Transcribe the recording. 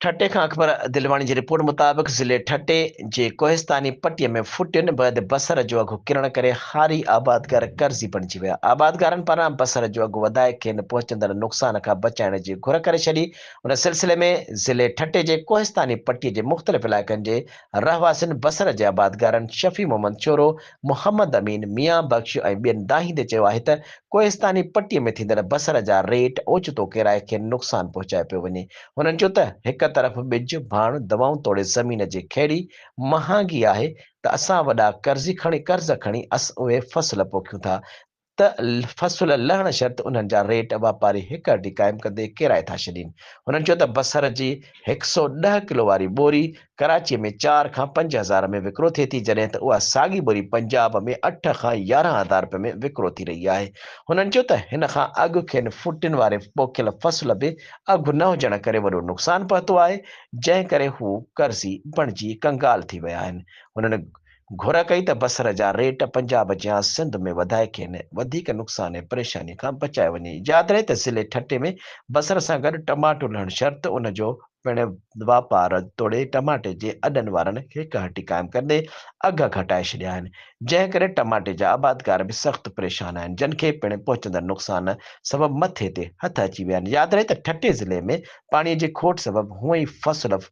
ٺٽي کان اڪبر دلواڻي جي رپورٽ مطابق ضلعي ٺٽي جي ڪوهستاني پٽي ۾ ڦٽين بعد بصر جو اگهه ڪرڻ ڪري هاري آبادگار قرضي بڻجي ويا، آبادگارن پاران بصر جو اگهه وڌائي کين پهچندڙ نقصان کان بچائڻ جي گهر ڪري ڇڏي، ان سلسلي ۾ ضلعي ٺٽي جي ڪوهستاني پٽي جي مختلف علائقن جي رهواسين بصر جي آبادگارن شفيع محمد چورو، محمد امين، ميان بخش ۽ ٻين دانهيندي چيو آهي ته ڪوهستاني پٽي ۾ ٿيندڙ بصر جا ريٽ اوچتو ڪيرائي کين نقصان پهچايو پيو وڃي. هنن چيو ته هڪ طرف ٻج، ڀاڻ، دوائون توڙي زمين جي کهڙي مهانگي آهي ته اسان وڏا قرضي کڻي قرض کڻي اسان اهي فصل پوکيون ٿا ته ته فصل لهڻ شرط انهن جا ريٽ واپاري هڪ هڏي قائم ڪندي ڪيرائي ٿا ڇڏين. هنن چيو ته بصر جي هڪ سؤ ڏهه ڪلو واري ٻوري ڪراچيء ۾ چار کان پنج هزار ۾ وڪرو ٿئي ٿي جڏهن ته اها ساڳي ٻوري پنجاب ۾ اٺ کان يارهن هزار رپين ۾ وڪرو ٿي رهي آهي. هنن چيو ته هن کان اڳ کين ڦٽين واري پوکيل فصل به اگهه نه هجڻ ڪري وڏو نقصان پهتو آهي جنهن ڪري هو قرضي بڻجي ڪنگال ٿي ويا آهن. هنن گهر ڪئي ته بصر جا ريٽ پنجاب جيان سنڌ ۾ وڌائي کين وڌيڪ نقصان ۽ پريشاني کان بچايو وڃي. ياد رهي ته ضلعي ٺٽي ۾ بصر سان گڏ ٽماٽو لهڻ شرط ان جو پڻ واپار توڙي ٽماٽي جي اڏن وارن هڪ هٽي قائم ڪندي اگهه گهٽائي ڇڏيا آهن جنهن ڪري ٽماٽي جا آبادگار به سخت پريشان آهن جن کي پڻ پهچندڙ نقصان سبب مٿي تي هٿ اچي ويا آهن. ياد رهي ته ٺٽي ضلعي ۾ پاڻي جي کوٽ سبب هونئن ئي فصل